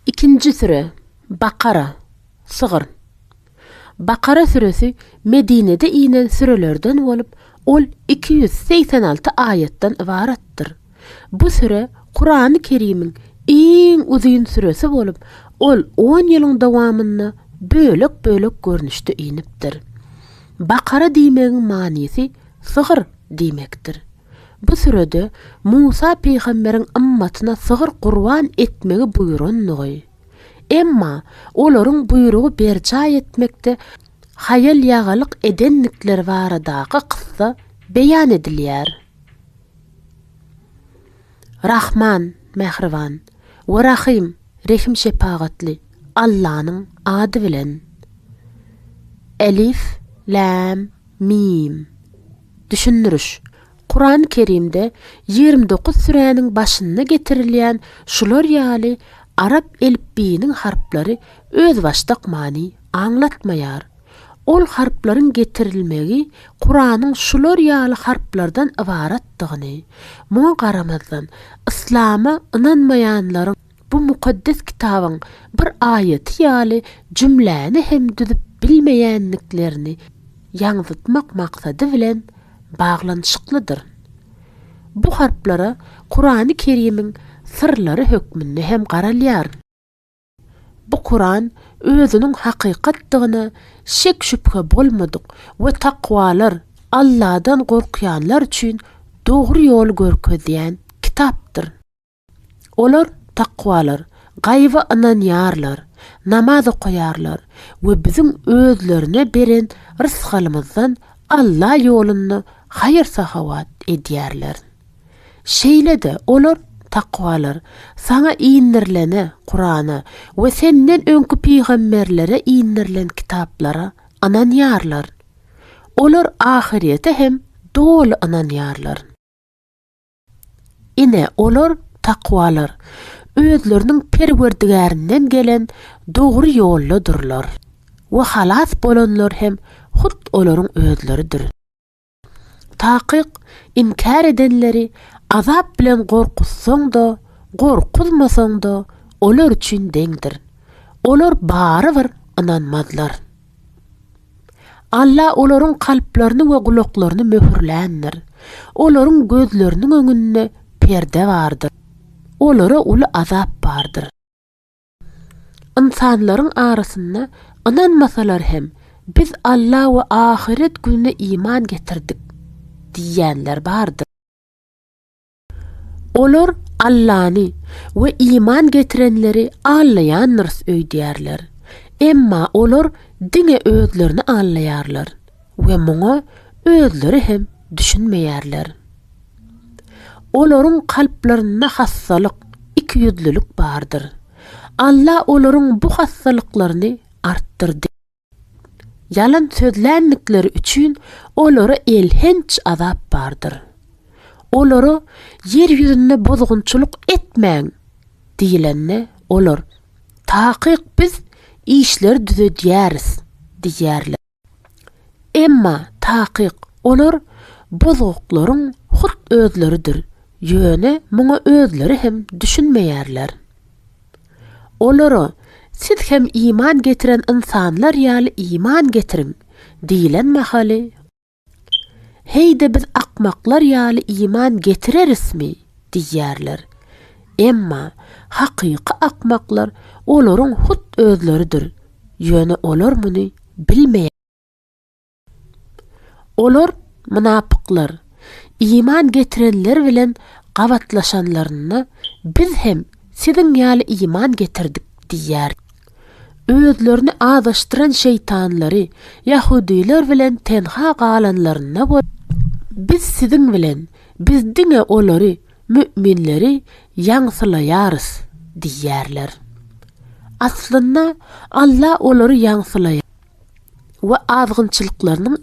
Ikinji süre, Bakara, Sygyr. Bakara süresi Medinede inen sürelerden bolup, ol iki ýüz segsen alty aýatdan ybaratdyr. Bu süre Kurany Kerimiň iň uzyn süresi bolup, ol on ýylyň dowamynda bölek-bölek görnüşde inipdir. Bakara diýmegiň manysy Sygyr diýmekdir. Bu sürede Musa pygamberiň ymmatyna sygyr gurban etmegi buýrandygy, emma olaryň buýrugy berjaý etmekde haýal-ýagalyk edendikleri baradaky kyssa beýan edilýär. Rahman, mähriban, we Rahym, rehim-şepagatly, Allanyň ady bilen. Elif, Läm, Mim. Düşündiriş, Kurany Kerimde ýigrimi dokuz süräniň başynda getirilýän şular ýaly arap elipbiýiniň harplary özbaşdak many aňlatmaýar. Ol harplaryň getirilmegi Kuranyň şular ýaly harplardan ybaratdygyny, muňa garamazdan, yslama ynanmaýanlaryň Bu Mukaddes Kitabyň bir aýaty ýaly jümläni hem düzüp bilmeýändiklerini ýaňzytmak maksady bilen baglanyşyklydyr. Bu harplara Kurany Kerimiň syrlary hökmünde hem garalýar. Bu Kuran özüniň hakykatdygyna şek-şübhe bolmadyk we takwalar, Alladan gorkýanlar üçin dogry ýoly görkezýän kitapdyr. Olar takwalar, gaýyba ynanýarlar, namaz okaýarlar we biziň özlerine beren rysgalymyzdan Alla ýolunda haýyr-sahawat edýärler. Şeýle-de olar, takwalar, saňa indirilene, Kurana, we senden öňki pygamberlere indirilen kitaplara ynanýarlar. Olar ahyrete hem doly ynanýarlar. Ine, olar, takwalar, özleriniň Perwerdigärinden gelen dogry ýoldadyrlar. We halas bolanlar hem hut olaryň özleridir. Takyk, inkär edenleri azap bilen gorkuzsaň-da, gorkuzmasaň-da, olar üçin deňdir. Olar barybir ynanmazlar. Alla olaryň kalplaryny we gulaklaryny möhürländir. Olaryň gözleriniň öňünde perde bardyr. Olara uly azap bardyr. Ynsanlaryň arasynda ynanmasalar hem, Biz Alla we ahyret gününe iman getirdik diýýänler bardyr. Olar Allany we iman getirenleri allaýandyrys öýdýärler. Emma olar diňe özlerini allaýarlar we muňa özleri hem düşünmeýärler. Olaryň kalplarynda hassalyk, ikiýüzlülik bardyr. Alla olaryň bu hassalyklaryny artdyrdy. Ýalan sözländikleri üçin olara elhenç azap bardyr. Olara ýer ýüzünde bozgunçylyk etmäň diýlende, olar, Takyk biz işleri düzedýäris diýýärler. Emma takyk olar bozguklaryň hut özleridir, ýöne muňa özleri hem düşünmeýärler. Olara, Siz hem iman getiren ynsanlar ýaly iman getiriň! diýlen mahaly, Heý-de biz akmaklar ýaly iman getirerismi? diýýärler. Emma hakyky akmaklar olaryň hut özleridir, ýöne olar muny bilmeýärler. Olar, mynapyklar, iman getirenler bilen gabatlaşanlarynda, Biz hem siziň ýaly iman getirdik diýýär. Özlerini azaşdyran şeýtanlary, ýahudylar bilen tenha galanlarynda bol Biz siziň bilen, biz diňe olary, mü'minleri, ýaňsylaýarys diýýärler. Aslynda, Alla olary ýaňsylaýar. we azgynçylyklarynyň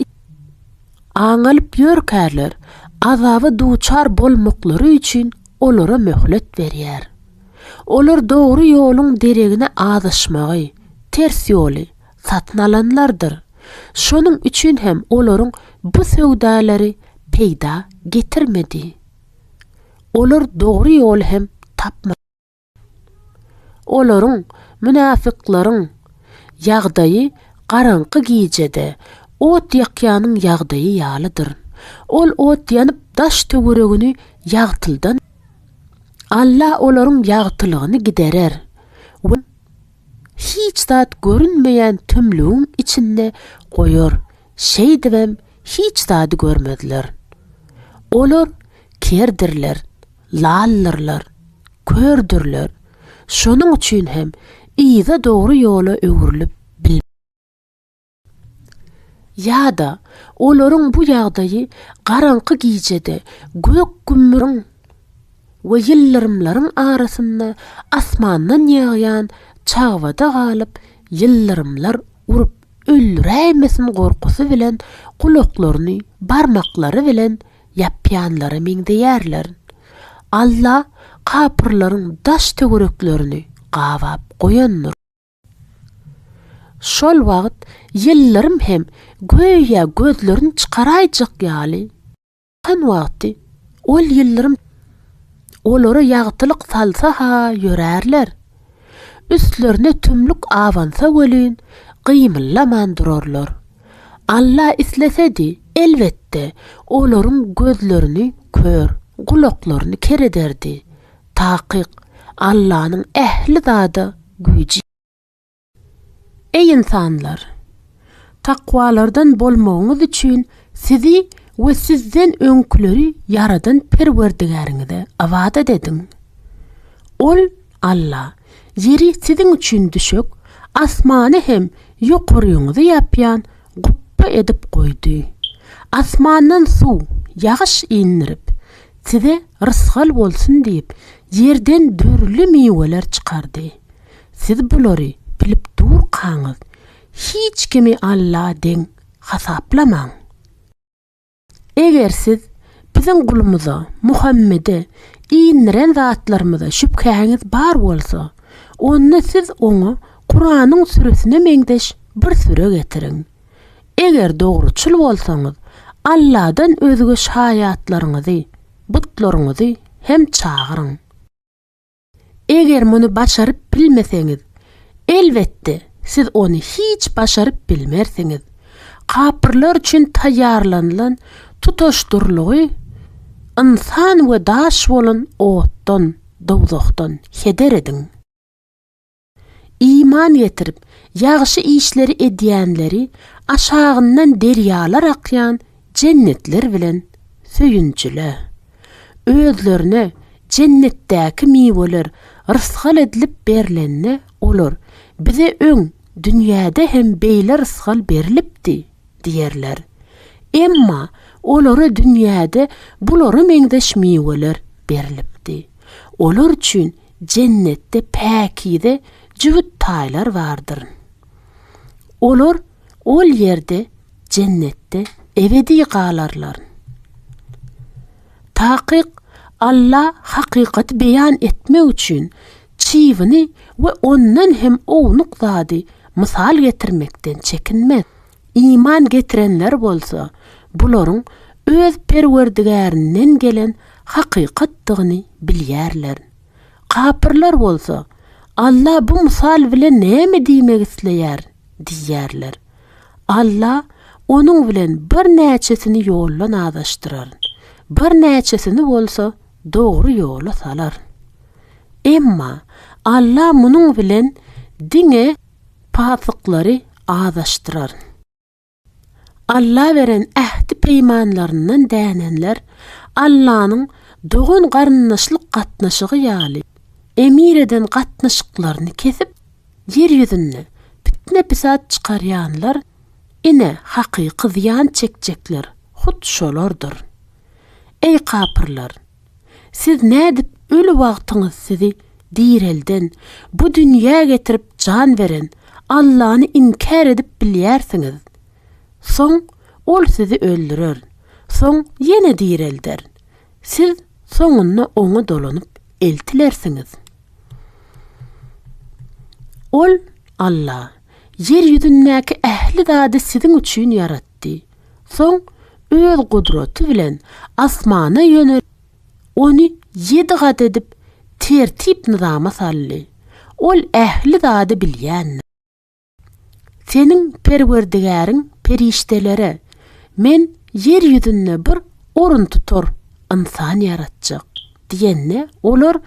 aň alyp ýörkärler, azaba duçar bolmaklary üçin olara möhlet berýär. Olar dogry ýoluň deregine azaşmagy, ters ýoly, satyn alanlardyr. Şonuň üçin hem olaryň bu söwdalary peýda getirmedi. Olar dogry ýoly hem tapmadylar. Olaryň, mynafyklaryň, ýagdaýy garaňky gijede ot ýakýanyň ýagdaýy ýalydyr. Ol ot ýanyp daş-töweregini ýagtyldan, Alla olaryň ýagtylygyny giderer we hiç zat görünmeýän tümlügiň içinde goýar Şeýdibem hiç zady görmezler. Olar kerdirler, laldyrlar, kördürler, şonuň üçin hem yza dogry ýola öwrülip bilmezler. Ýa-da olaryň bu ýagdaýy garaňky gijede gök-gümmüriň we ýyldyrymlaryň arasynda asmandan ýagýan çagbada galyp ýyldyrymlar urup, öldüräýmesin gorkusy bilen gulaklaryny barmaklary bilen ýapýanlara meňzeýärler. Alla kapyrlaryň daş-töwereklerini gabap goýandyr. Şol wagt ýyllarym hem göýä gözlerini çykaraýjak ýaly. Şol wagty ol ýyldyrym olara ýagtylyk salsa-ha ýörärler, üstlerine tümlük abansa welin, gymyllaman durarlar. Alla islesedi, elbetde, olaryň gözlerini kör, gulaklaryny ker ederdi. Takyk, Allanyň ähli zada güýji. Eý ynsanlar! Takwalardan bolmagyňyz üçin sizi we sizden öňküleri ýaradan Perwerdigäriňize ybadat ediň. Ol, Alla, ýeri siziň üçin düşek, asmany hem ýokaryňyzy ýapýan gupba edip goýdy. Asmandan suw, ýagyş, indirip, size rysgal bolsun diýip, ýerden dürli miweler çykardy. Siz bulary bilip durkaňyz, hiç kimi Alla deň hasaplamaň. Eger siz Biziň gulumyza, Muhammede, indiren zatlarymyza şübhäňiz bar bolsa, onda siz oňa Kuranyň süresine meňzeş bir süre getiriň. Eger dogruçyl bolsaňyz, Alladan özge şaýatlaryňyzy, butlaryňyzy, hem çagyryň. Eger muny başaryp bilmeseňiz, elbetde, siz ony hiç başaryp bilmersiňiz. Kapyrlar üçin taýýarlanylan tutaşdyrlygy ynsan we daş bolan otdan, dowzahdan, heder ediň. Iman getirip, ýagşy işleri edýänleri aşagyndan derýalar akýan jennetler bilen söýünjile. Özlerine jennetdäki miweler rysgal edilip berlende olar, Bize öň, dünýäde hem beýle rysgal berlipdi diýerler. Emma olara dünýäde bulara meňzeş miweler berlipdi. Olar üçin Jennetde päkize jübüt taýlar bardyryn. Olar ol ýerde, Jennetde, ebedi galarlaryn. Takyk Alla hakykaty beýan etmek üçin çybyny we ondan hem ownuk zady mysal getirmekden çekinmez. Iman getirenler bolsa bularyň öz Perwerdigärinden gelen hakykatdygyny bilýärler. Kapyrlar bolsa, Alla bu mysal bilen näme diýmek isleýär? diýýärler. Alla onuň bilen birnäçesini ýoldan azaşdyrar, birnäçesini bolsa dogry ýola salar. Emma Alla munuň bilen diňe. Pasyklary azaşdyraryn. Alla beren ähdi-peýmanlaryndan dänenler Allanyň dogan-garyndaşlyk gatnaşygy ýaly emir eden gatnaşyklaryny kesip, ýer ýüzünde pitne-pisat çykarýanlar, ine, hakyky zyýan çekjekler hut şolardyr. Eý kapyrlar! Siz nädip öli wagtyňyz sizi direlden, bu dünýä getirip jan beren Allany inkär edip bilýärsiňiz? Soň Ol sizi öldürer, soň ýene direlder. Siz soňunda Oňa dolanyp eltilersiňiz. Ol, Alla, ýer ýüzündäki ähli zady siziň üçin ýaratdy. Soň Öz gudraty bilen asmana ýönelip, ony ýedi gat edip tertip-nyzama saldy. Ol ähli zady bilýändir. Seniň Perwerdigäriň perişdelere, Men ýer ýüzünde bir oruntutar ynsan ýaratjak diýende, olar,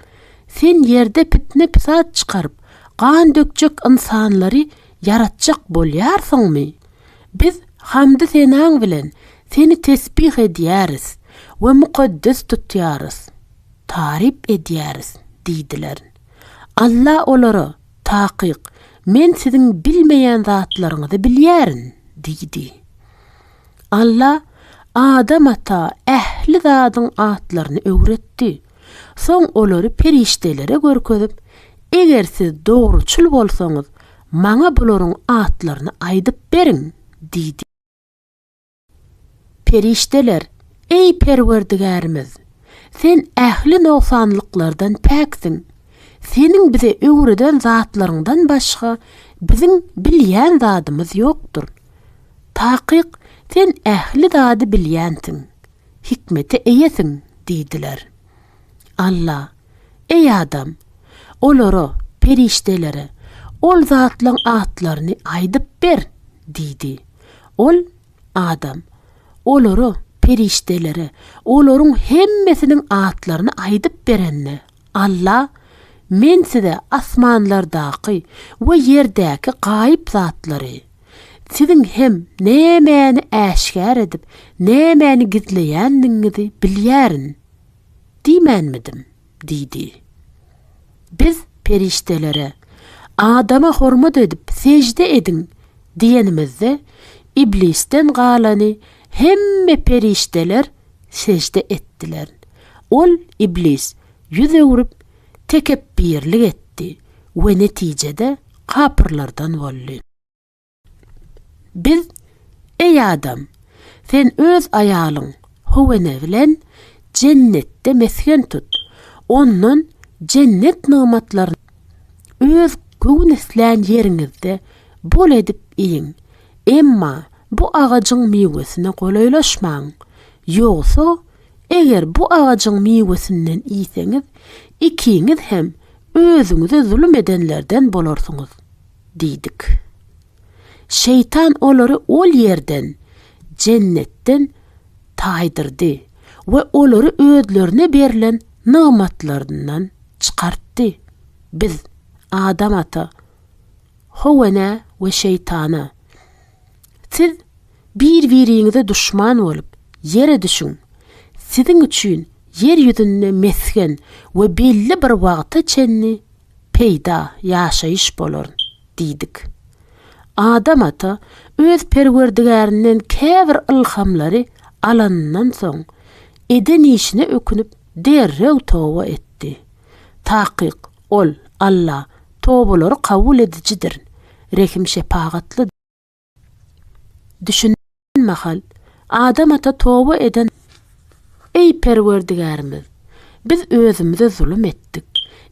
Sen ýerde pitne-pisat çykaryp, gan dökjek ynsanlary ýaratjak bolýarsyňmy? Biz hamdy-senaň bilen Seni tesbih edýäris we mukaddes tutýarys, taryp edýäris diýdiler. Alla olara, Takyk, Men siziň bilmeýän zatlaryňyzy bilýärin diýdi. Alla Adam ata ähli zadyň atlaryny öwretdi. Soň olary perişdelere görkezip, Eger siz dogruçyl bolsaňyz, maňa bularyň atlaryny aýdyp beriň! diýdi. Perişdeler, Eý Perwerdigärimiz! Sen ähli nogsanlyklardan päksiň. Seniň bize öwreden zatlaryňdan başga biziň bilýän zadymyz ýokdur. Takyk, Sen ähli zady bilýänsiň. hikmete eýesiň? diýdiler. Alla, Eý adam, olara, perişdelere, ol zatlaryň atlaryny aýdyp ber! diýdi. Ol, adam, olara, perişdelere, olaryň hemmesiniň atlaryny aýdyp berende, Alla, Men size asmanlardaky we ýerdäki gaýyp zatlary, Siziň hem nämäni äşgär edip, nämäni gizleýändigiňizi bilýärin diýmänmidim? diýdi. Biz perişdelere, Adama hormat edip, sežde ediň diýenimizde, Iblisden galany hemme perişdeler sežde etdiler. Ol, Iblis, ýüz öwrüp, tekepbirlik etdi we netijede kapyrlardan boldy. Biz, Eý adam! Sen öz aýalyň, Howene bilen Jennetde mesgen tut, ondan, Jennet nygmatlaryndan, öz göwün islän ýeriňizde bol edip iýiň, emma bu agajyň miwesine golaýlaşmaň, ýogsa, Eger bu agajyň miwesinden iýseňiz, ikiňiz hem özüňize zulum edenlerden bolarsyňyz diýdik. Şeýtan olary ol ýerden, jennetden, taýdyrdy we olary özlerine berlen nygmatlaryndan çykartdy. Biz Adam ata, Howa enä we Şeýtana. Siz bir-biriňize duşman bolup, ýere düşüň. Siziň üçin ýer ýüzünde mesgen we belli bir wagta çenli peýda, ýaşaýyş, bolar diýdik. Adam ata öz Perwerdigärinden käbir ylhamlary alanyndan soň, eden işine ökünip, derrew toba etdi. Takyk, ol, Alla, Tobalary kabul edijidir, rehim-şepagatly. Düşün mahal, Adam ata toba eden. Eý, Perwerdigärimiz! Biz özümize zulum etdik.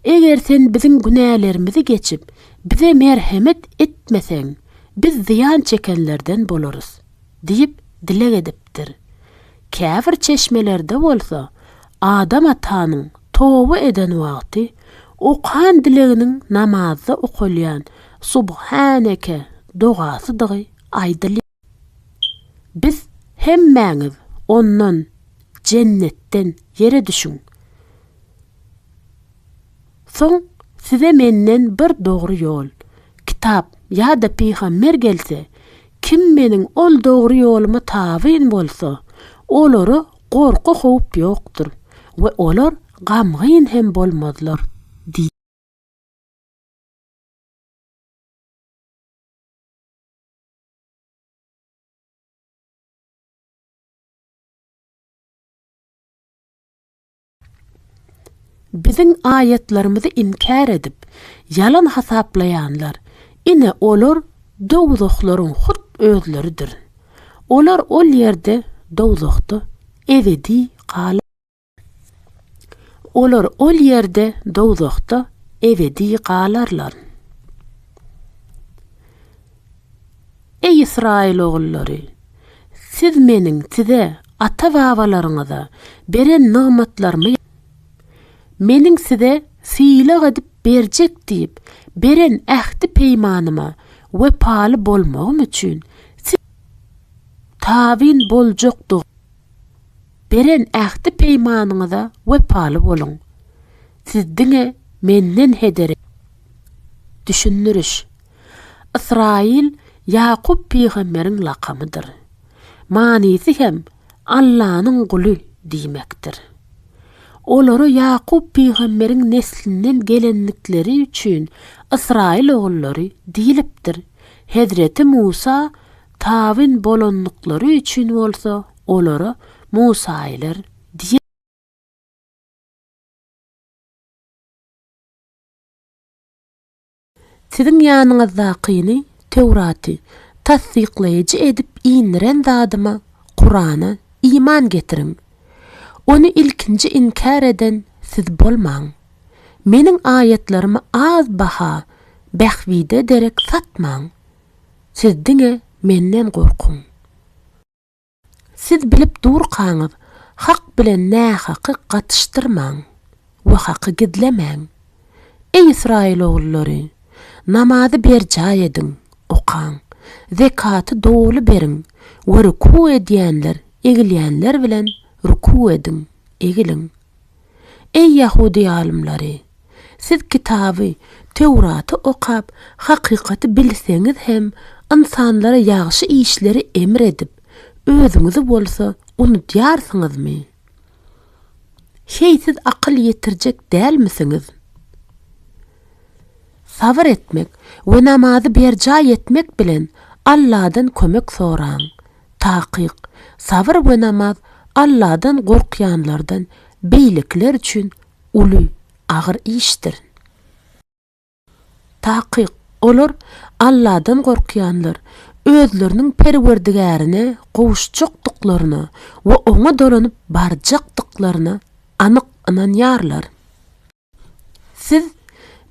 Eger Sen biziň günälerimizi geçip, bize merhemet etmeseň, biz zyýan çekenlerden bolarys. diýip dileg edipdir. Käbir çeşmelerde bolsa Adam atanyň toba eden wagty okan dileginiň namazda okalýan Subhaneke dogasydygy aýdylýar. Biz hemmäňiz ondan, jennetden, ýere düşüň. Soň size menden bir dogry ýol, kitap ýa-da pygamber gelse, kim meniň ol dogry ýoluma tabyn bolsa, olara gorky-howp ýokdur we olar gamgyn hem bolmazlar diý. Biziň aýatlarymyzy inkär edip, ýalan hasaplaýanlar, ine, olar dowzahlaryň hut özleridir. Olar ol ýerde, dowzahda, ebedi galarlar. Olar ol ýerde, dowzahda, ebedi galarlar. Eý, Ysraýyl ogullary, siz Meniň size, ata-babalaryňyza, beren nygmatlarymy, Meniň size sylag edip berjek diýip, beren ähti-peýmanyma wepaly bolmagym üçin, siz tabyn boljakdygyňyz, beren ähti-peýmanyňyza wepaly boluň. Siz diňe Menden heder ediň. Düşündiriş, Ysraýyl Ýakup pygamberiň lakamydyr. Manysy hem Allanyň guly diýmekdir. Olara Ýakup pygamberiň neslinden gelendikleri üçin Ysraýyl ogullary diýlipdir, hezreti Musa tabyn bolandyklary üçin bolsa olara musaýylar diýilipdir. Siziň ýanyňyzdakyny, Töwraty, tassyklaýjy edip indiren zadyma, Kurana, iman getiriň. Ony ilkinji inkär eden siz bolmaň. Meniň aýatlarymy az baha, bähbide derek satmaň. Siz diňe Menden gorkuň. Siz bilip durkaňyz, hak bilen nähaky gatyşdyrmaň we haky gizlemäň. Eý Ysraýyl ogullary, namazy berjaý ediň, okaň, zekaty doly beriň we ruku edýänler egilýänler bilen ruku ediň, egiliň. Eý, ýahudy alymlary! Siz kitaby, Töwraty okap, hakykaty bilseňiz hem, ynsanlara ýagşy işleri emr edip, özüňizi bolsa unudýarsyňyzmy? Heý, siz akyl ýetirjek dälmisiňiz? Sabyr etmek we namazy berjaý etmek bilen Alladan kömek soraň. Takyk, sabyr we namaz Alladan gorkýanlardan beýlekiler üçin uly, agyr işdir. Takyk, olar, Alladan gorkýanlar, özleriniň Perwerdigärine gowuşjakdyklaryna we Oňa dolanyp barjakdyklaryna anyk ynanýarlar. Siz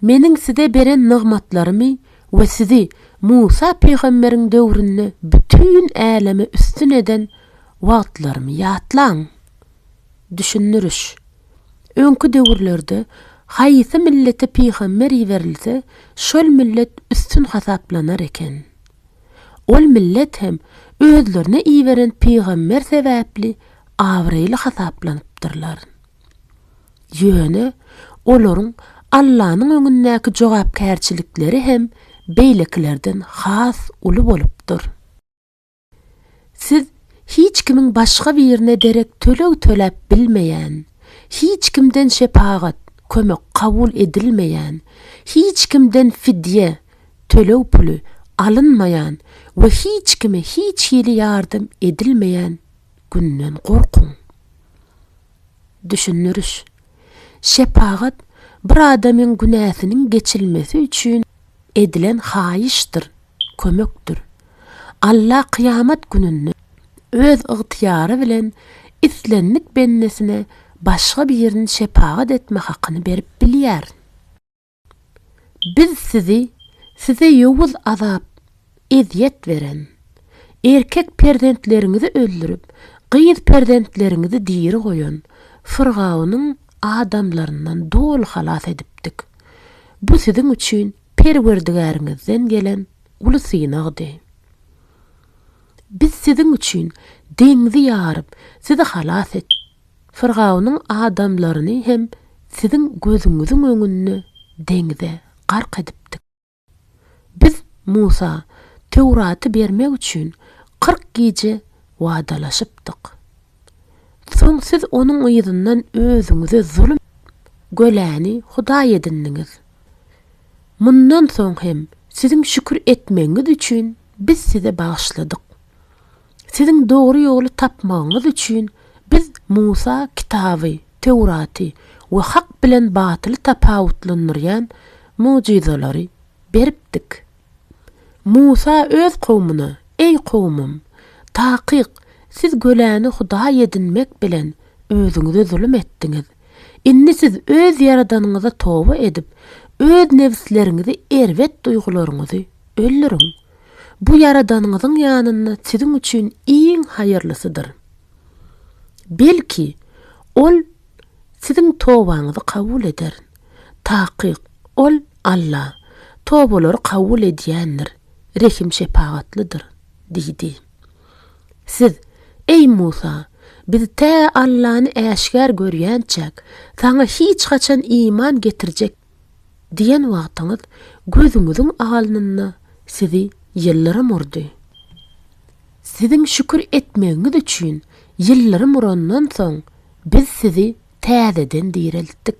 Meniň size beren nygmatlarymy we sizi Musa pygamberiň döwründe bütin äleme üstün eden wagtlarymy ýatlaň. Düşündiriş. Öňki döwürlerde haýsy millete pygamber iberilse, şol millet üstün hasaplanar eken. Ol millet hem özlerine iberen pygamber sebäpli abraýly hasaplanypdyrlar. Ýöne olaryň Allanyň öňündäki jogapkärçilikleri hem beýlekilerden has uly bolupdyr. Siz hiç kimiň başga birine derek töleg töläp bilmeýän, hiç kimden şepagat, kömek kabul edilmeýän, hiç kimden fidýe, töleg puly, alynmaýan we hiç kime hiç hili ýardam edilmeýän günden gorkuň. Düşündiriş. Şepagat bir adamyň günäsiniň geçilmesi üçin edilen haýyşdyr, kömekdir. Alla kyýamat gününde Öz ygtyýary bilen islendik bendesine başga birini şepagat etme hakyny berip bilýär. Biz sizi, size ýowuz azap, ezýet beren, erkek perzentleriňizi öldürip, gyz perzentleriňizi diri goýan Fyrgawnyň adamlaryndan doly halas edipdik. Bu siziň üçin Perwerdigäriňizden gelen uly synagdy. Biz siziň üçin deňzi ýaryp, sizi halas etdik. Firgawnyň adamlaryny hem siziň gözüňiziň öňünde deňze gark edipdik. Biz Musa Töwraty bermek üçin kyrk gije wadalaşypdyk. Soň siz onuň yzyndan özüňize zulum göläni hudaý edindiňiz. Mundan soň hem siziň şükür etmegiňiz üçin biz size bagyşladyk. Siziň dogry ýoly tapmagyňyz üçin biz Musa kitaby, Töwraty, we hak bilen batyly tapawutlandyrýan mugjyzalary beripdik. Musa öz kowmuna, Eý kowmym! Takyk, siz göläni hudaý edinmek bilen özüňize zulum etdiňiz. Indi siz öz Ýaradanyňyza toba edip, öz nebisleriňizi erbet duýgularyňyzy öldüriň. Bu Ýaradanyňyzyň ýanynda siziň üçin iň haýyrlysydyr. Belki, Ol siziň tobaňyzy kabul eder. Takyk, Ol, Alla, tobalary kabul edýändir, rehim-şepagatlydyr diýdi. Siz, Eý Musa! Biz tä Allany äşgär görýänçäk, Saňa hiç haçan iman getirjek Diýen wagtyňyz gözüňiziň alnynda sizi ýyldyrym urdy. Siziň şükür etmegiňiz üçin ýyldyrym urandan soň biz sizi täzeden direltdik.